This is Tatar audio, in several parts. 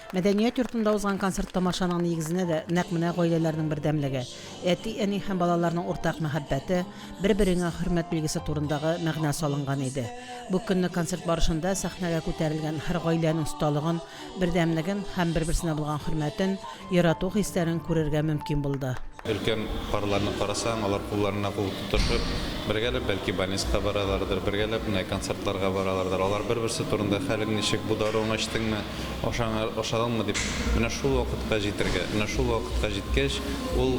Мәдәният йортында узган концерт-тамашаның нигезенә дә нәкъ менә гаиләләрнең бердәмлеге, әти-әни һәм балаларның уртак мәхәббәте, бер-береңә хөрмәт билгесе турындагы мәгънә салынган иде. Бу көнне концерт барышында сәхнәгә күтәрелгән һәр гаиләнең осталыгын, бердәмлеген һәм бер-берсенә булган хөрмәтен, ярату хисләрен күрергә мөмкин булды. Өлкән парларны карасаң, алар кулларына кул тотышып, бергәләп бәлки больницага баралардыр, бергәләп менә концертларга баралардыр. Алар бер-берсе турында, хәлең ничек, бу даруыңны эчтеңме, ашаңа, ашадыңмы дип, менә шул вакытка җитәргә. Менә шул вакытка җиткәч, ул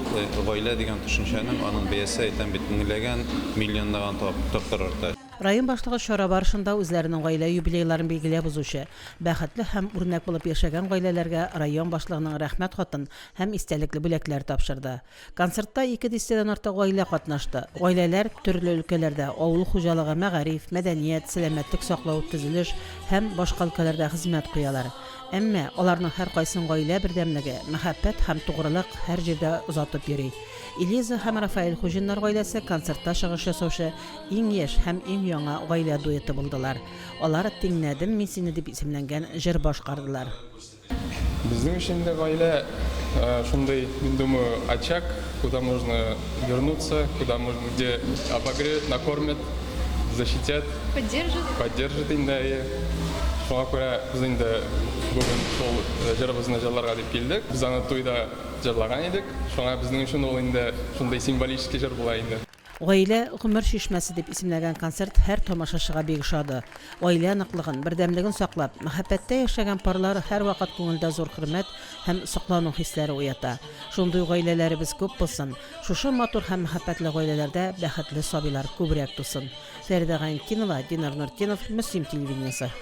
гаилә дигән төшенчәнең, аның бәясе, әйтәм бит, меңләгән, миллионлаган тапкыр арта. Район башлыгы чара барышында үзләренең гаилә юбилейларын билгеләп узучы, бәхетле һәм үрнәк булып яшәгән гаиләләргә район башлыгының Рәхмәт хатын һәм истәлекле бүләкләр тапшырды. Концертта ике дистәдән артык гаилә катнашты. Гаиләләр төрле өлкәләрдә, авыл хуҗалыгы, мәгариф, мәдәният, сәламәтлек саклау, төзелеш һәм башка өлкәләрдә хезмәт куялар. Әмма аларның һәркайсын гаилә бердәмлеге, мәхәббәт һәм тугрылык һәр җирдә озатып йөри. Элиза һәм Рафаэль Хуҗиннар гаиләсе концертта чыгыш ясаучы иң яшь һәм иң яңа гаилә дуэты булдылар. Алар Тиңнәдем мин сине дип исемләнгән җыр башкардылар. Безнең өчен дә гаилә шундый, мин думаю, очаг, куда можно вернуться, куда можно, где обогреют, накормят, защитят. Поддержат. Поддержат инде, әйе. Шуңа күрә без инде бүген шул җырыбызны җырларга дип килдек. Без аны туйда җырлаган идек. Шуңа безнең өчен ул инде шундый символический җыр була инде. Гаилә, гомер чишмәсе дип исемләгән концерт һәр тамашачыга бик ошады. Гаилә ныклыгын, бердәмлеген саклап, мәхәббәттә яшәгән парлар һәрвакыт күңелдә зур хөрмәт һәм соклану хисләре уята. Шундый гаиләләребез күп булсын, шушы матур һәм мәхәббәтле гаиләләрдә бәхетле сабыйлар күбрәк тусын. Фәридә Гайнетдинова, Динар Нуртдинов, Мөслим телевидениесе.